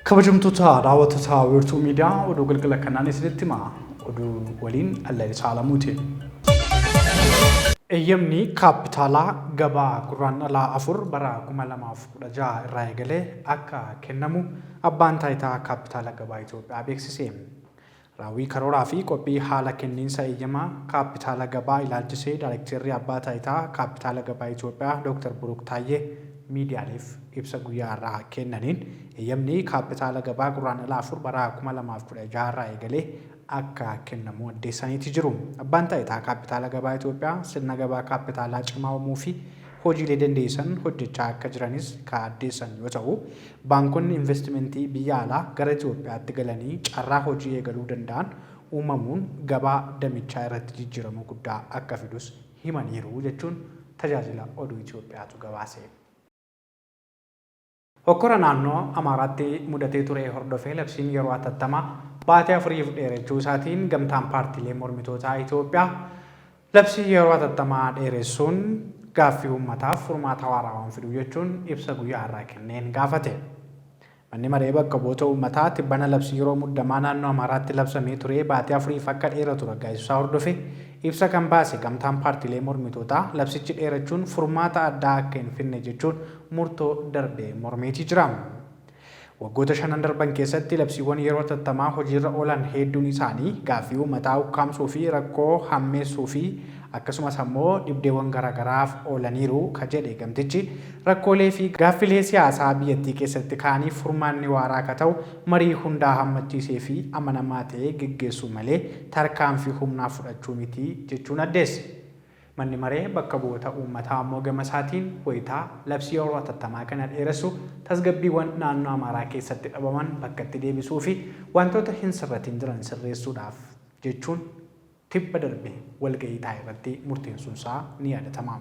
Kabajamtoota daawwattoota wiirtuu miidiyaa oduu galgala kanaan isinitti hima. Oduu waliin Allali Saalamuuti. Eeyyamni kaappitaalaa gabaa gurraan dhalaa afur bara 2016 irraa eegalee akka kennamu abbaan taayitaa kaappitaala gabaa Itoophiyaa beeksise. Raawwii karooraa fi qophii haala kenniinsa eeyyama kaappitaala gabaa ilaalchisee Daarekteerri Abbaa Taayitaa Kaappitaala Gabaa Itiyoophiyaa Dooktar Buruuk Taayyee miidiyaaleef ibsa guyyaa har'aa kennaniin, eeyyamni kaappitaala gabaa Gurraandhala 4 bara 2016 irraa eegalee akka kennamu addeessaniiti jiru. Abbaan Taayitaa Kaappitaala Gabaa Itiyoophiyaa sirna gabaa kaappitaalaa cimaa uumuu fi hojiilee dandeessisan hojjechaa akka jiranis ka addeessan yoo ta'u, baankonni invastimentii biyya alaa gara Itiyoophiyaatti galanii carraa hojii eegaluu danda'an uumamuun gabaa damichaa irratti jijjiirama guddaa akka fidus himaniiru jechuun Tajaajila Oduu Itiyoophiyaatu gabaase. Hokkora naannoo Amaaraatti mudatee ture hordofee labsiin yeroo atattamaa baatii afuriif dheerachuu isaatiin Gamtaan Paartiilee Mormitootaa Itoophiyaa labsii yeroo atattamaa dheeressuun gaaffii uummataaf furmaata waaraa waan fidu jechuun ibsa guyyaa har'aa kenneen gaafate. Manni Maree Bakka Bu'oota Uummataa tibbana labsii yeroo muddamaa naannoo Amaaraatti labsamee ture baatii afuriif akka dheeratu raggaasisuu isaa hordofee ibsa kan baase Gamtaan Paartiilee Mormitootaa labsichi dheerachuun furmaata addaa akka hin fidne jechuun murtoo darbe mormeetii jira. Waggoota shanan darban keessatti labsiiwwan yeroo hatattamaa hojiirra oolan heedduun isaanii gaaffii uummataa ukkaamsuu fi rakkoo hammeessuu fi akkasumas ammoo dhibdeewwan garaagaraaf oolaniiru ka jedhe gamtichi, rakkoolee fi gaaffilee siyaasaa biyyattii keessatti ka'aniif furmaanni waaraa ka ta'u marii hundaa hammachiisee fi amanamaa ta'ee geggeessuu malee tarkaanfii humnaa fudhachuu miti jechuun addeesse. Manni Maree Bakka Bu'oota Uummataa ammoo gamasaatiin wayita labsii yeroo hatattamaa kana dheeressu tasgabbiiwwan naannoo Amaaraa keessatti dhabaman bakkatti deebisuufi wantoota hin sirratiin jiran sirreessuudhaaf jechuun tibba darbe walga'ii taa'erratti murteensuunsaa ni yaadatama.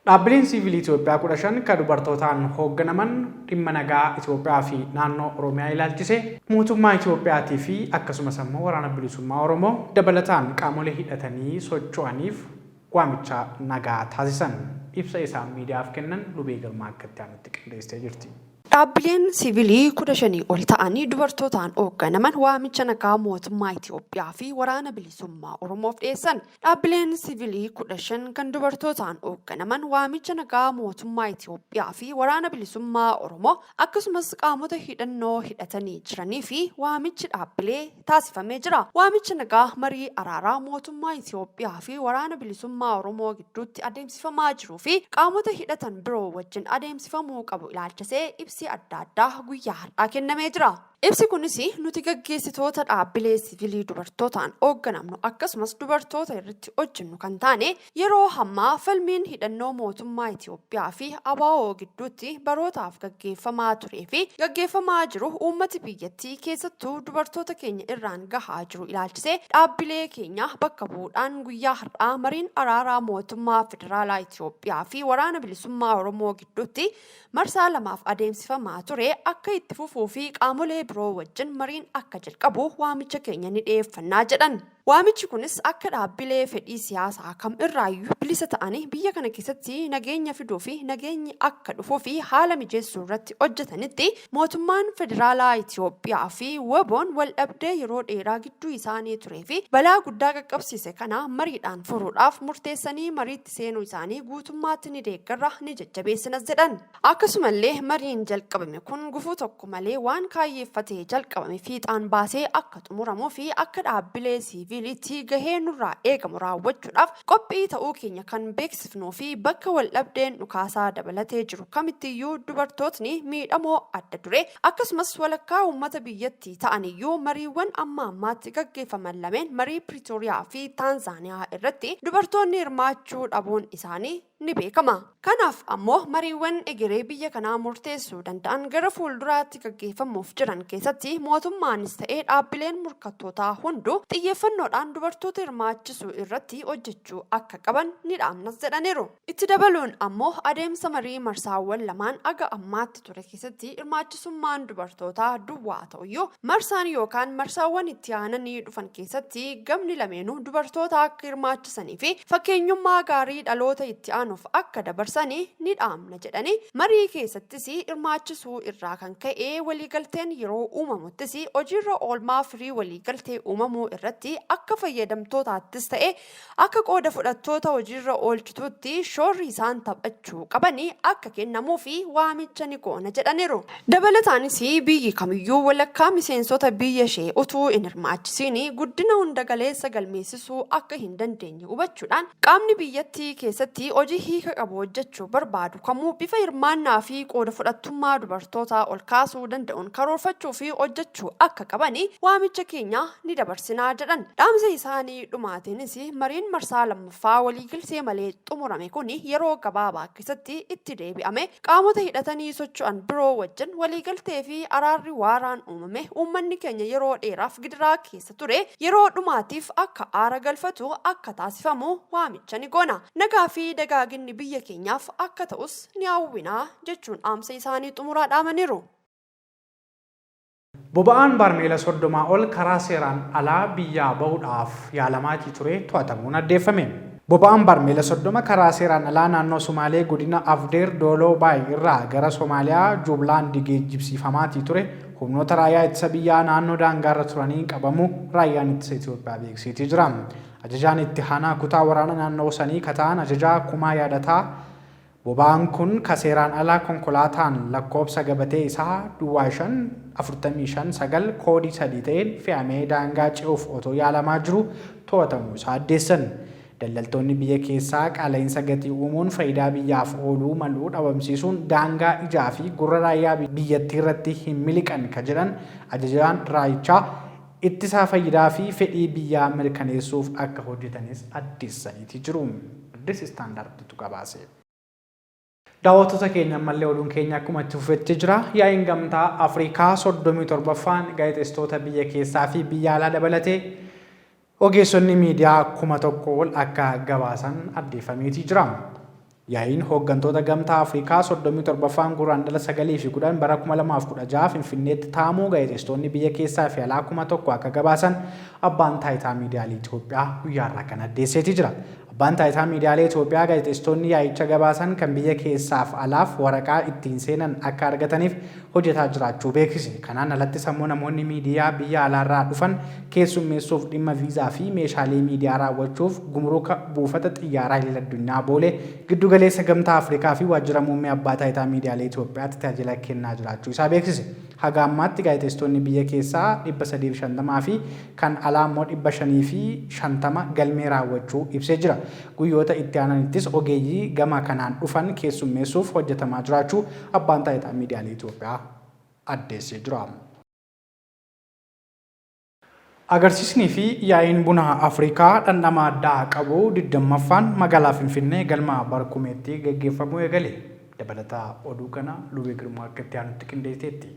Dhaabbileen Siivilii Itoophiyaa 15 ka dubartootaan hoogganaman dhimma nagaa Itoophiyaa fi naannoo Oromiyaa ilaalchisee mootummaa Itoophiyaatii fi akkasumas ammoo Waraana Bilisummaa Oromoo dabalataan qaamolee hidhatanii socho'aniif waamicha nagaa taasisan. Ibsa isaan miidiyaaf kennan Lubee Girmaa akka itti aanutti qindeessitee jirti. Dhaabbileen Siivilii 15 ol ta'an dubartootaan hoogganaman waamicha nagaa mootummaa Itoophiyaa fi Waraana Bilisummaa Oromoof dhiyeessan. Dhaabbileen sivilii 15 kan dubartootaan oogganaman waamicha nagaa mootummaa Itiyoophiyaa fi Waraana Bilisummaa Oromoo akkasumas qaamota hidhannoo hidhatanii jiranii fi waamichi dhaabbilee taasifamee jira. Waamicha nagaa marii araaraa mootummaa Itiyoophiyaa fi Waraana Bilisummaa Oromoo gidduutti adeemsifamaa jiruu fi qaamota hidhatan biroo wajjin adeemsifamuu qabu ilaalchisee ibsi adda addaa guyyaa har'aa kennamee jira. Ibsi kunis nuti gaggeessitoota dhaabbilee sivilii dubartootaan oogganamnu akkasumas dubartoota irratti hojjennu kan taane yeroo hammaa falmiin hidhannoo mootummaa Itiyoophiyaa fi ABO gidduutti barootaaf gaggeeffamaa turee fi gaggeeffamaa jiru uummati biyyattii keessattuu dubartoota keenya irraan gahaa jiru ilaalchisee dhaabbilee keenya bakka bu'uudhaan guyyaa har'aa mariin araaraa mootummaa federaalaa Itiyoophiyaa fi waraana bilisummaa Oromoo gidduutti marsaa lamaaf adeemsifamaa ture akka itti fufuu fi qaamolee biroo wajjin mariin akka jalqabu waamicha keenya ni dhiyeeffannaa jedhan. Waamichi kunis akka dhaabbilee fedhii siyaasaa kam irraayyuu bilisa ta'anii biyya kana keessatti nageenya fiduu fi nageenyi akka dhufuu fi haala mijeessuu irratti hojjetanitti mootummaan federaalaa Itoophiyaa fi WBOn waldhabdee yeroo dheeraa gidduu isaanii turee fi balaa guddaa qaqqabsiise kana mariidhaan furuudhaaf murteessanii mariitti seenuu isaanii guutummaatti ni deeggarra, ni jajjabeessinas jedhan. Akkasumallee mariin jalqabame kun gufuu tokko malee waan kaayyeeffatee jalqabame fiixaan baasee akka xumuramuu fi akka dhaabbilee siiviiliitti gahee nurraa eegamu raawwachuudhaaf qophii ta'uu keenya kan beeksifnuu fi bakka waldhabdeen dhukaasaa dabalatee jiru kamittiyyuu dubartootni miidhamoo adda duree Akkasumas walakkaa uummata biyyatti ta'aniyyuu mariiwwan amma ammaatti gaggeeffaman lameen marii Piriitooriyaa fi Taanzaaniyaa irratti dubartoonni hirmaachuu dhabuun isaanii ni beekama. Kanaaf ammoo mariiwwan egeree biyya kanaa murteessuu danda'an gara fuulduraatti gaggeeffamuuf jiran keessatti mootummaanis ta'ee dhaabbileen murkattootaa hunduu xiyyeeffannoodhaan dubartoota hirmaachisuu irratti hojjechuu akka qaban ni dhaamnas jedhaniiru. Itti dabaluun ammoo adeemsa marii marsaawwan lamaan aga ammaatti ture keessatti hirmaachisummaan dubartootaa duwwaa ta'uyyuu marsaan yookaan marsaawwan itti aananii dhufan keessatti gamni lameenuu dubartoota akka hirmaachisanii fi fakkeenyummaa gaarii dhaloota itti aanuuf akka dabarsani ni dhaamna jedhanii marii keessattis hirmaachisuu irraa kan ka'e waliigalteen yeroo uumamuttis hojiirra oolmaa firii waliigaltee uumamuu irratti akka fayyadamtootaattis ta'e Akka qooda fudhattoota hojiirra oolchituutti shoorri isaan taphachuu qaban akka kennamuufi waamicha ni goona jedhaniru. Dabalataanis biyyi kamiyyuu walakkaa miseensota biyya ishee utuu hin hirmaachisiin guddina hunda galeessa galmeessisuu akka hin dandeenye hubachuudhaan qaamni biyyatti keessatti hojii hiika qabu hojjechuu barbaadu kamuu bifa hirmaannaa fi qooda fudhattummaa dubartootaa ol kaasuu danda'uun karoorfachuu fi hojjechuu akka qaban waamicha keenya ni dabarsina jedhan dhaamsa isaanii. Gaaffii dhumaatiinis mariin marsaa lammaffaa waliigaltee malee xumurame kun yeroo gabaabaa keessatti itti deebi'amee qaamota hidhatanii socho'an biroo wajjin waliigaltee fi araarri waaraan uumame uummanni keenya yeroo dheeraaf gidiraa keessa ture yeroo dhumaatiif akka aara galfatu akka taasifamu waamicha ni goona. Nagaa fi dagaaginni biyya keenyaaf akka ta'us ni hawwina jechuun dhaamsa isaanii xumuraa dhaamaniiru. Boba'aan baarmeela 30 ol karaa seeraan alaa biyyaa bahuudhaaf yaalamaatii ture to'atamuun addeeffame. Boba'aan baarmeela 30 karaa seeraan alaa naannoo Sumaalee godina Afdeer Dooloo Baay irraa gara Somaaliyaa Juublaandi geejjibsiifamaatii ture humnoota raayyaa ittisa biyyaa naannoo daangaarra turaniin qabamuu Raayyaan Ittisa Itoophiyaa beeksiitii jira. Ajajaan itti haanaa kutaa waraana naannoo sanii ka ta'an Ajajaa Kumaa Yaadataa Boba'aan kun ka seeraan alaa konkolaataan lakkoobsa gabatee isaa duwwaa 5, 45, 9 koodii 3 ta'een fe'amee daangaa ce'uuf otoo yaalamaa jiruu to'atamuu isaa addeessan. Daldaltoonni biyya keessaa qaala'iinsa gatii uumuun fayidaa biyyaaf ooluu malu dhabamsiisuun daangaa ijaa fi gurra raayyaa biyyattiirratti hin miliqan ka jedhan ajajaan raayichaa, ittisaa fayyidaa fi fedhii biyyaa mirkaneessuuf akka hojjetanis addeessaniiti jiru. Addis Standard tu gabaase. Daawwattoota keenya ammallee oduun keenya akkuma itti fufetti jira. Yaa'iin Gamtaa Afrikaa 37ffaan gaazexeessitoota biyya keessaa fi biyya alaa dabalatee ogeessonni miidiyaa 1000 ol akka gabaasan addeeffameeti jira. Yaa'iin hooggantoota Gamtaa Afrikaa 37ffaan Gurraandhala 9 fi 10 bara 2016 Finfinneetti taa'amuu gaazexeessitoonni biyya keessaa fi alaa 1000 akka gabaasan Abbaan Taayitaa Miidiyaalee Itoophiyaa guyyaa har'aa kana addeesseeti jira. Abbaan Taayitaa Miidiyaalee Itoophiyaa gaazexeessitoonni yaa'icha gabaasan kan biyya keessaaf alaaf waraqaa ittiin seenan akka argataniif hojjetaa jiraachuu beeksise. Kanaan alattis ammoo namoonni miidiyaa biyya alaarraa dhufan keessummeessuuf dhimma viizaa fi meeshaalee miidiyaa raawwachuuf gumuruka buufata xiyyaaraa Idil Addunyaa Boolee, Giddu Galeessa Gamtaa Afrikaa fi Waajjira Muummee Abbaa Taayitaa Miidiyaalee Itoophiyaatti tajaajila kennaa jiraachuu isaa beeksise. Haga ammaatti gaazexeessitoonni biyya keessaa 350 fi kan alaa ammoo 550 galmee raawwachuu ibsee jira. Guyyoota itti aananittis ogeeyyii gama kanaan dhufan keessummeessuuf hojjetamaa jiraachuu Abbaan Taayitaa Miidiyaalee Itoophiyaa addeessee jira. Agarsiisnii fi yaa'iin buna Afrikaa dhandhama addaa qabu 20ffaan magaalaa Finfinnee galma Barkumeetti gaggeeffamuu eegale. Dabalata oduu kanaa Lubee Girmaa akka itti aanutti qindeesiteetti.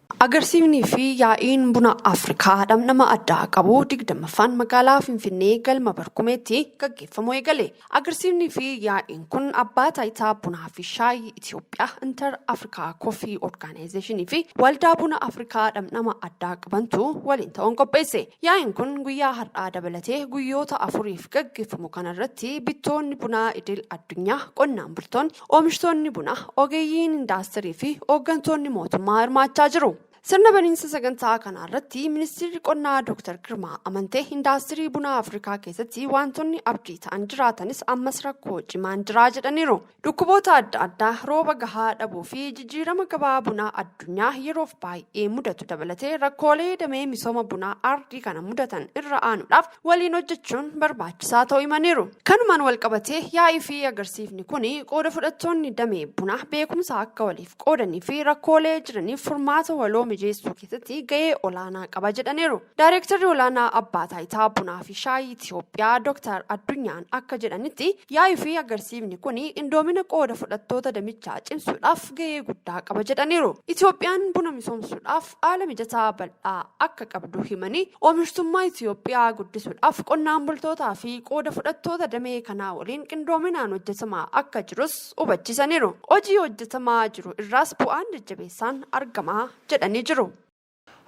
Agarsiifnii fi yaa'iin buna Afrikaa dhamdhama addaa qabu 20ffaan magaalaa Finfinnee galma Barkumeetti gaggeeffamuu eegale. Agarsiifnii fi yaa'iin kun abbaa taayitaa bunaa fi shaayii Itoophiyaa Inter Afrikaa Koffii Orgaanayizeeshinii fi waldaa buna Afrikaa dhamdhama addaa qabantu waliin ta'uun qopheesse. Yaa'iin kun guyyaa har'aa dabalatee guyyoota afuriif gaggeeffamu kanarratti bittoonni bunaa idil addunyaa, qonnaan bultoonni, Oomishtoonni buna, ogeeyyiin indaastirii fi hooggantoonni mootummaa hirmaachaa jiru. Sirna baniinsa sagantaa kanaa irratti Ministiirri Qonnaa Dooktar Girmaa Amantee indaastirii bunaa Afrikaa keessatti waantonni abdii ta'an jiraatanis ammas rakkoo cimaan jiraa jedhaniiru. Dhukkuboota adda addaa, rooba gahaa dhabuu fi jijjiirama gabaa bunaa addunyaa yeroof baay'ee mudatu dabalatee rakkoolee damee misooma bunaa ardii kana mudatan irra aanuudhaaf waliin hojjechuun barbaachisaa ta'uu himaniiru. Kanumaan walqabatee yaa'ii fi agarsiifni kun qooda fudhattoonni damee bunaa beekumsa akka waliif qoodanii fi rakkoolee jiraniif furmaata waloo mijeessuu keessatti ga'ee olaanaa qaba jedhaniiru. Daayireektarri olaanaa Abbaa Taayitaa Bunaa fi Shaayii Itiyoophiyaa Dooktar Addunyaan akka jedhanitti yaa'ii fi agarsiifni kun qindoomina qooda fudhattoota damichaa cimsuudhaaf ga'ee guddaa qaba jedhaniiru. Itiyoophiyaan buna misoomsuudhaaf haala mijataa bal'aa akka qabdu himanii, oomishtummaa Itiyoophiyaa guddisuudhaaf qonnaan bultootaa fi qooda fudhattoota damee kanaa waliin qindoominaan hojjetamaa akka jirus hubachiisaniiru. Hojii hojjetamaa jiru irraas bu'aan jajjabeessaan argama jedhanii jiru.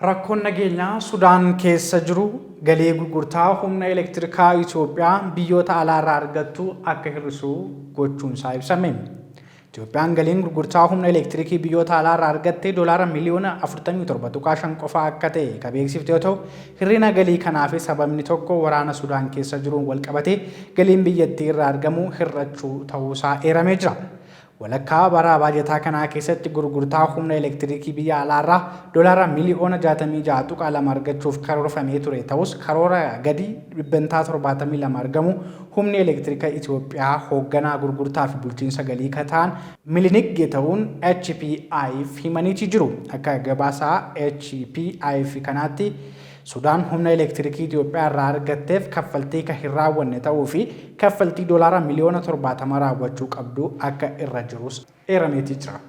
Rakkoon nageenyaa Sudaan keessa jiru galii gurgurtaa humna elektirikaa Itoophiyaa biyyoota alaarraa argattu akka hir'isu gochuunsaa ibsame. Itoophiyaan galiin gurgurtaa humna elektirikii biyyoota alaa irraa argatte doolaara miliyoona 47.5 qofaa akka ta'e ka beeksifte yoo ta'u, hir'ina galii kanaafis sababni tokko waraana Sudaan keessa jiruun walqabatee galiin biyyattii irraa argamu hir'achuu ta'uusaa eeramee jira. Walakkaa bara baajataa kanaa keessatti gurgurtaa humna elektirikii biyya alaa irraa doolaara miliyoona 66.2 argachuuf karoorfamee ture ta'us karoora gadi dhibbentaa 72 argamu Humni Elektirika Itoophiyaa hoogganaa gurgurtaa fi bulchiinsa galii ka ta'an Milinik Geetawuun HPI'f himaniiti jiru. Akka gabaasa HPI'f kanaatti Sudaan humna elektirikii Itoophiyaa irraa argatteef kaffaltii ka hin raawwanne ta'uu fi kaffaltii doolaara miliyoona 70 raawwachuu qabdu akka irra jirus eerameeti jira.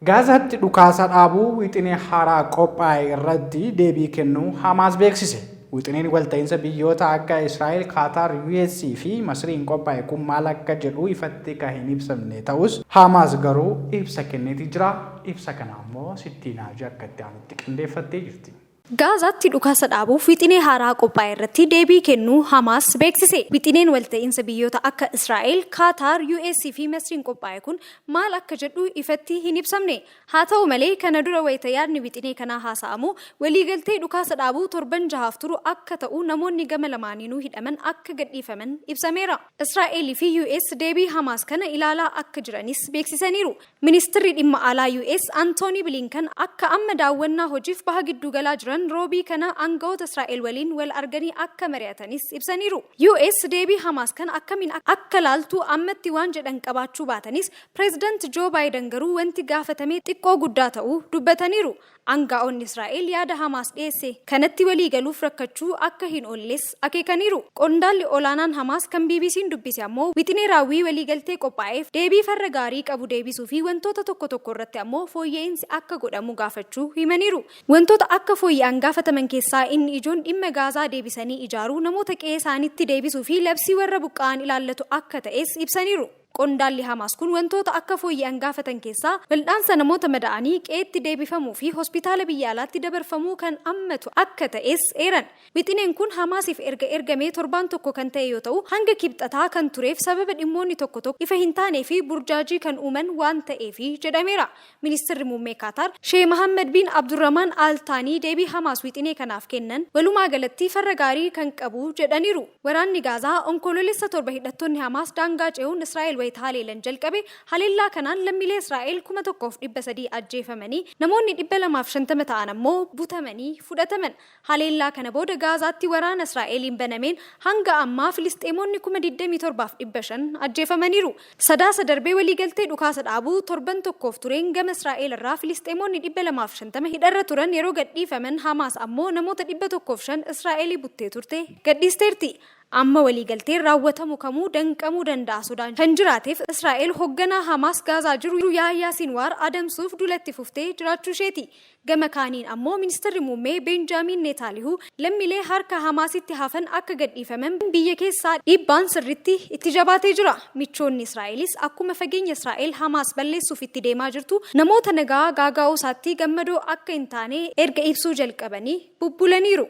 Gaazaatti dhukaasa dhaabuu wixinee haaraa qophaa'e irratti deebii kennuu Hamaas beeksise. Wixineen walta'iinsa biyyoota akka Israa'el, Kaataar, US fi Masriin qophaa'e kun maal akka jedhu ifatti kan hin ibsamne ta'us, Hamaas garuu ibsa kenneeti jira. Ibsa kana ammoo Sittiinaaji akka itti aanutti qindeeffattee jirti. Gaazaatti dhukaasa dhaabuuf wixinee haaraa qophaa'e irratti deebii kennuu Hamaas beeksise. Wixineen walta'iinsa biyyoota akka Israa'el, Kaataar, US fi Masriin qophaa'e kun maal akka jedhu ifatti hin ibsamne. Haa ta'u malee, kana dura wayita yaadni wixinee kanaa haasa'amu, waliigaltee dhukaasa dhaabuu torban jahaaf turu akka ta'u namoonni gama lamaaniinuu hidhaman akka gadhiifaman ibsameera. Israa'el fi US deebii Hamaas kana ilaalaa akka jiranis beeksisaniiru. Ministirri Dhimma Alaa US Antoonii Biliinkan akka amma daawwannaa hojiif Baha Gidduugalaa jiran Roobii kana aanga'oota Israa'el waliin wal arganii akka mari'atanis ibsaniiru. US deebii Hamaas kana akkamiin akka laaltu ammatti waan jedhan qabaachuu baatanis, Pireezidant Joo Baayidan garuu wanti gaafatame xiqqoo guddaa ta'uu dubbataniiru. Aanga'oonni Israa'el yaada Hamaas dhiyeesse kanatti walii galuuf rakkachuu akka hin oolles akeekaniiru. Qondaalli olaanaan Hamaas kan BBC'n dubbise ammoo wixinee raawwii waliigaltee qophaa'eef deebii farra gaarii qabu deebisuu fi wantoota tokko tokko irratti ammoo fooyya'iinsi akka godhamu gaafachuu himaniiru. Wantoota akka fooyya'an gaafataman keessaa inni ijoon dhimma Gaazaa deebisanii ijaaruu, namoota qe'ee isaaniitti deebisuu fi labsii warra buqqa'an ilaallatu akka ta'es ibsaniiru. Qondaalli Hamaas kun wantoota akka fooyya'an gaafatan keessaa waldhaansa namoota mada'anii qe'eetti deebifamuu fi hospitaala biyya alaatti dabarfamuu kan ammatu akka ta'es eeran. Wixineen kun Hamaasiif erga ergamee torbaan tokko kan ta'e yoo ta'u, hanga Kibxataa kan tureef sababa dhimmoonni tokko tokko ifa hin taanee fi burjaajii kan uuman waan ta'eefi jedhameera. Ministirri Muummee Kaataar Sheeh Mahaammad Biin Abdurrahmaan Al Taanii deebii Hamaas wixinee kanaaf kennan walumaa galatti farra gaarii kan qabu jedhaniiru. Waraanni Gaazaa Onkoloolessa 7 hidhattoonni Hamaas daangaa ce'uun Israa'el wayita haleelan jalqabe haleellaa kanaan lammiilee Israa'el 1,300 ajjeefamanii namoonni 250 ta'an ammoo butamanii fudhataman. Haleellaa kana booda Gaazaatti waraana Israa'eliin banameen hanga ammaa Filisxeemoonni 27,500 ajjeefamaniiru. Sadaasa darbe waliigaltee dhukaasa dhaabuu torban tokkoof tureen gama Israa'el irraa Filisxeemoonni 250 hidharra turan yeroo gadhiifaman Hamaas ammoo namoota 105 Israa'eli buttee turte gadhiisteerti. Amma waliigalteen raawwatamu kamuu danqamuu danda'a sodaan kan jiraateef Israa'el hogganaa Hamaas Gaazaa jiru Yaahiyaa Sinwaar adamsuuf duula itti fuftee jiraachuu isheeti. Gama kaaniin ammoo Ministirri Muummee Beenjaamiin Neetaalihuu lammilee harka Hamaasitti hafan akka gadhiifaman biyya keessaa dhiibbaan sirriitti itti jabaatee jira. Michoonni Israa'elis akkuma fageenya Israa'el Hamaas balleessuuf itti deemaa jirtu namoota nagaa gaaga'uusaatti gammadoo akka hin taane erga ibsuu jalqabanii bubbulaniiru.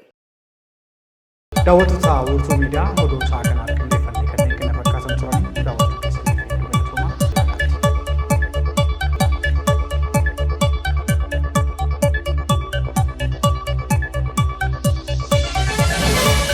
Daawwattoota Wiirtuu Miidiyaa oduu sa'a kanaaf qindeeffanne kanneen kana fakkaatan turanii daawwachuu keessaniif hedduu galatoomaa. Nagaatti.